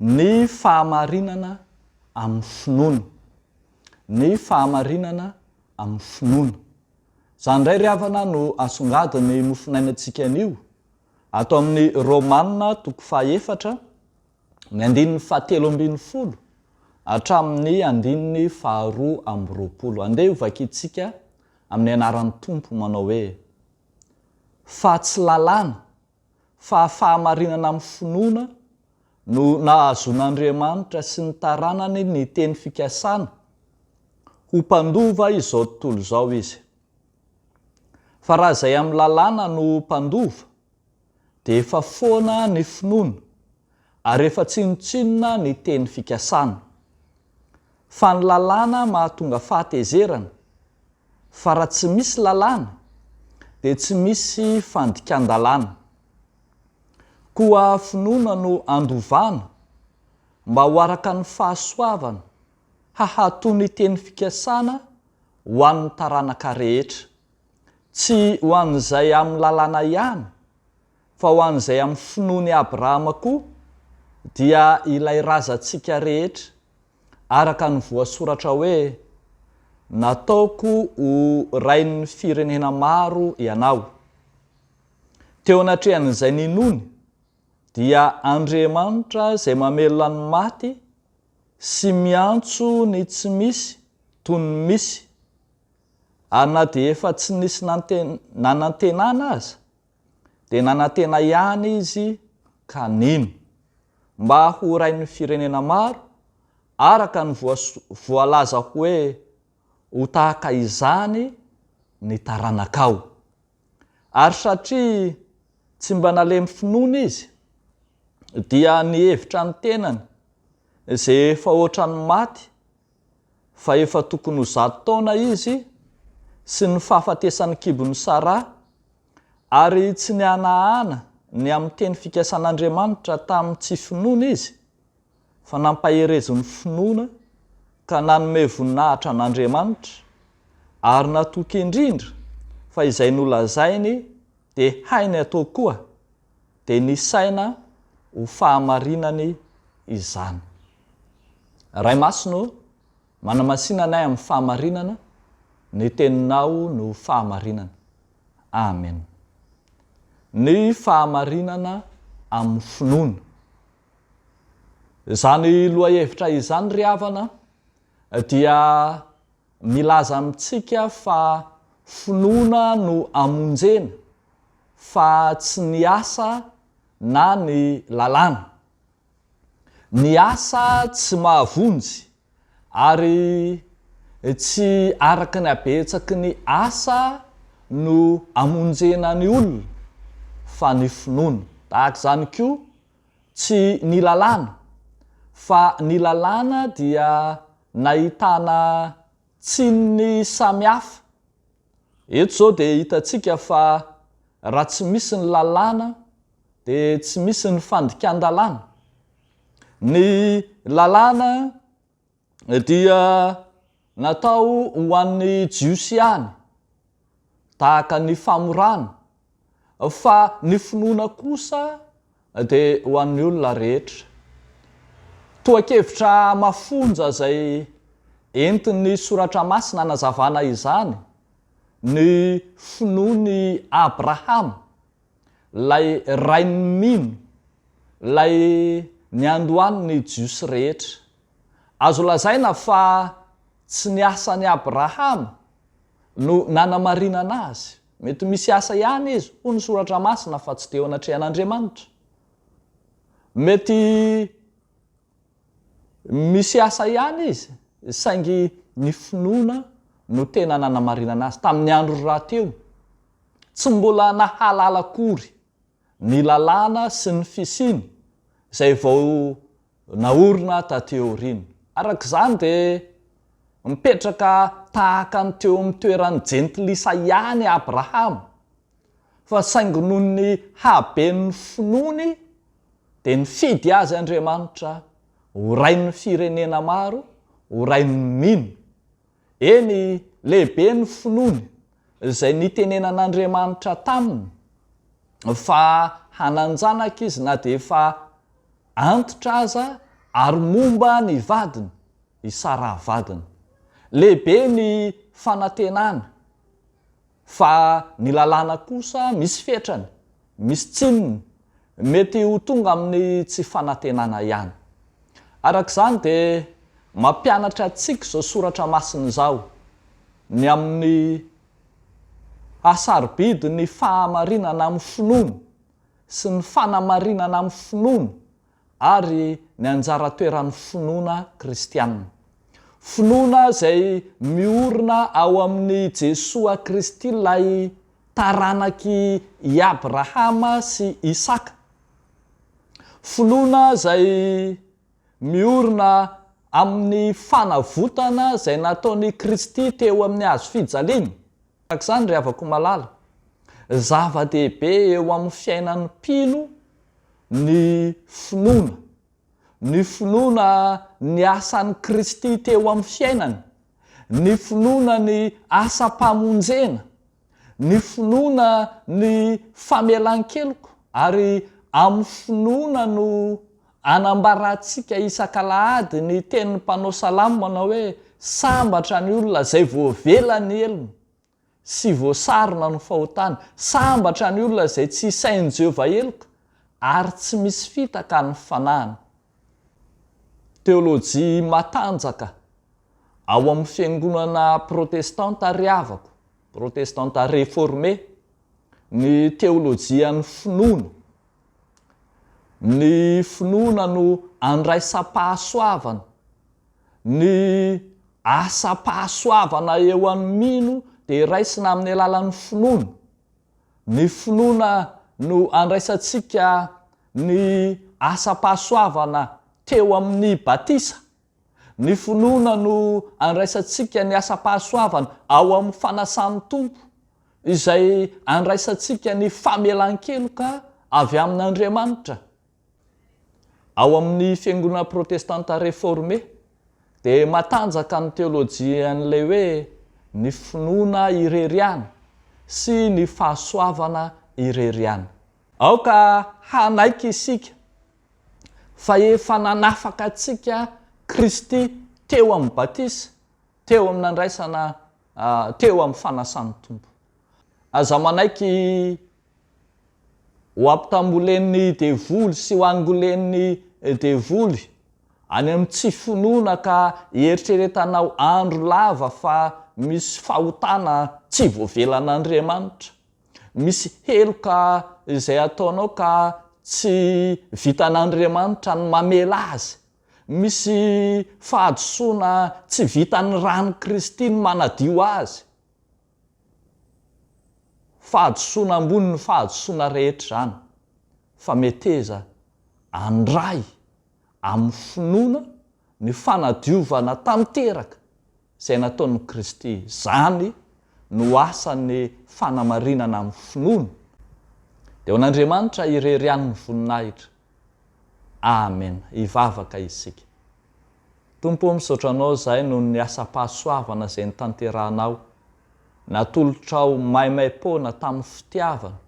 Ny fahamarinana amin'ny finoana. Ny fahamarinana amin'ny finoana. Izany indray ry havana no asongadin'ny mofonainantsika anio. Ato amin'ny Romana toko fahaefatra, ny andininy fahatelo ambin'ny folo hatramin'ny andininy faharoa amby roapolo. Andeha ho vakintsika amin'ny anaran'ny Tompo manao hoe, Fa tsy lalàna fa fahamarinana amin'ny finoana no nahazoan'Andriamanitra sy ny taranany ny teny fikasana ho mpandova izao tontolo izao Izy. Fa raha izay amin'ny lalàna no mpandova, dia efa foana ny finoana, ary efa tsinontsinona ny teny fikasana. fa ny lalàna mahatonga fahatezerana, fa raha tsy misy lalàna dia tsy misy fandikan-dalàna. Koa finoana no andovana mba ho araka ny fahasoavana hahato ny teny fikasana ho an'ny taranaka rehetra, tsy ho an'izay amin'ny lalàna ihany, fa ho an'izay amin'ny finoan' i Abrahama koa, dia ilay razantsika rehetra, araka ny voasoratra hoe, Nataoko ho rain'ny firenena maro ianao. Teo anatrehan'izay ninoany, dia Andriamanitra izay mamelona ny maty sy miantso ny tsy misy toy ny misy, ary na dia efa tsy nisy nanantenana aza, dia nanantena ihany izy ka nino. Mba ho rain'ny firenena maro, araka ny voalaza hoe ho tahaka izany ny taranakao. Ary satria tsy mba nalemy finoana izy, dia nihevitra ny tenany izay efa ohatran'ny maty fa efa tokony ho zato taona izy sy ny fahafatesan'ny kibon'i Sara, ary tsy nihanahana ny amin'ny teny fikasan'Andriamanitra tamin'ny tsy finoana izy, fa nampaherezo ny finoana ka nanome voninahitra an'Andriamanitra, ary natoky indrindra fa izay nolazainy dia hainy atao koa. dia nisaina ho fahamarinany izany. Ray Masina ô, manamasina anay amin'ny fahamarinana, ny Teninao no fahamarinana. Amen. Ny fahamarinana amin'ny finoana. Izany lohahevitra izany ry havana dia. Milaza amintsika fa finoana no amonjena fa tsy ny asa na ny lalàna. Ny asa tsy mahavonjy ary tsy araka ny habetsaky ny asa no amonjena ny olona fa ny finoana. Tahaka izany koa Tsy ny lalàna, fa ny lalàna dia nahitana tsininy samihafa. Eto izao dia hitantsika fa raha tsy misy ny lalàna dia tsy misy ny fandikan-dalàna. Ny lalàna dia natao ho an'ny Jiosy ihany, tahaka ny famorana, fa ny finoana kosa dia ho an'ny olona rehetra. Tohan-kevitra mafonja izay entin'ny Soratra Masina hanazavana izany ny finoan'i Abrahama Ilay Rain'ny mino, Ilay niandohan'ny Jiosy rehetra. Azo lazaina fa tsy ny asan'i Abrahama no nanamarinana azy. Mety misy asa ihany izy, hoy ny Soratra Masina, fa tsy teo anatrehan'Andriamanitra. Mety. Misy asa ihany izy, saingy ny finoana no tena nanamarinana azy tamin'ny andro rahateo. Tsy mbola nahalala akory ny lalàna sy ny fisiany izay vao naorina taty aoriana. Araka izany dia mipetraka tahaka ny teo amin'ny toeran'ny jentilisa ihany i Abrahama, fa saingy noho ny haben'ny finoany, dia nifidy azy Andriamanitra ho rain'ny firenena maro, ho rain'ny mino. Eny, lehibe ny finoany, izay nitenenan'Andriamanitra taminy fa hanan-janaka izy na dia efa antitra aza ary momba ny vadiny, i Saraha vadiny. Lehibe ny fanantenany. Fa ny lalàna kosa misy fetrany, misy tsininy, mety ho tonga amin'ny tsy fanantenana ihany. Araka izany dia mampianatra antsika izao soratra masina izao, ny amin'ny haha-sarobidy ny fahamarinana amin'ny finoana sy ny fanamarinana amin'ny finoana, ary ny anjara toeran'ny finoana kristiana. Finoana izay miorina ao amin'i Jesoa Kristy ilay taranak'i Abrahama sy Isaka. Finoana izay miorina amin'ny fanavotana izay nataon'i Kristy teo amin'ny hazo fijaliana. Tahaka izany ry havako malala, zava-dehibe eo amin'ny fiainan'ny mpino ny finoana, ny finoana ny asan'i Kristy teo amin'ny fiainany, ny finoana ny asam-pamonjena, ny finoana ny famelan-keloka, ary amin'ny finoana no Anambarantsika isak'alahady ny tenin'ny mpanao salamo manao hoe, Sambatra ny olona izay voavela ny helony sy voasarona ny fahotany. Sambatra ny olona izay tsy isain'i Jehovah heloka ary tsy misy fitaka ny fanahiny. Teolojia matanjaka ao amin'ny fiangonana protestanta ry havako, protestanta reformé, ny teolojian'ny finoana. Ny finoana no andraisam-pahasoavana. Ny asam-pahasoavana eo amin'ny mino dia raisina amin'ny alalan'ny finoana. Ny finoana no andraisantsika ny asam-pahasoavana teo amin'ny batisa. Ny finoana no andraisantsika ny asam-pahasoavana ao amin'ny fanasan'ny Tompo, izay andraisantsika ny famelan-keloka avy amin'Andriamanitra. Ao amin'ny Fiangonana Protestanta Reforme, dia matanjaka ny teolojian'ilay hoe ny finoana irery ihany sy ny fahasoavana irery ihany. Aoka hanaiky isika fa efa nanafaka antsika Kristy teo amin'ny batisa, teo amin'ny nandraisana, teo amin'ny fanasan'ny Tompo. Aza manaiky ho ampitambolen'ny devoly sy ho angolen'ny devoly any amin'ny tsy finoana ka hieritreretanao andro lava fa misy fahotana tsy voavelan'Andriamanitra. misy heloka izay ataonao ka tsy vitan'Andriamanitra ny mamela azy, misy fahadisoana tsy vitan'ny ran'i Kristy ny manadio azy, fahadisoana ambonin'ny fahadisoana rehetra izany, fa meteza handray amin'ny finoana ny fanadiovana tanteraka izay nataon'i Kristy. Izany no asan'ny fanamarinana amin'ny finoana. Dia ho an'Andriamanitra irery ihany ny voninahitra. Amen. Hivavaka isika. Tompo ô, misaotra Anao izahay noho ny asam-pahasoavana izay notanterahinao. natolotrao maimaim-poana tamin'ny fitiavana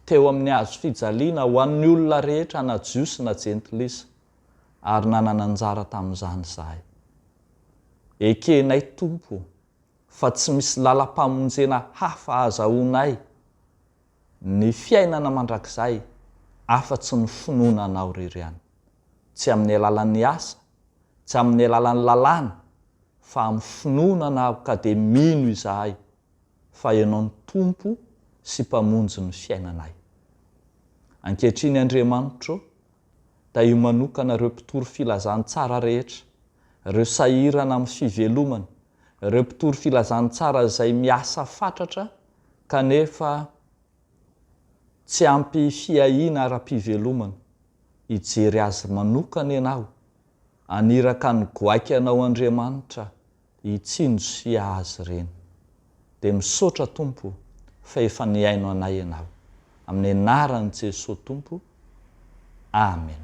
teo amin'ny hazo fijaliana ho an'ny olona rehetra na Jiosy na Jentilisa, ary nanana anjara tamin'izany izahay. Ekenay, Tompo ô, fa tsy misy làlam-pamonjena hafa hahazahoanay ny fiainana mandrakizay afa-tsy ny finoana Anao irery ihany, tsy amin'ny alalan'ny asa, tsy amin'ny alalan'ny lalàna, fa amin'ny finoana anao, ka dia mino izahay fa ianao no Tompo sy Mpamonjy ny fiainanay. Ankehitriny Andriamanitra ô, tahio manokana ireo mpitory filazantsara rehetra, ireo sahirana amin'ny fivelomana, ireo mpitory filazantsara izay miasa fatratra kanefa tsy ampy fiahiana ara-pivelomana, hijery azy manokana ianao, haniraka ny goaika anao Andriamanitra hitsinjo sy hiaha azy ireny. Dia misaotra Tompo fa efa nihaino anay ianao. Amin'ny anaran'i Jesoa Tompo. Amen.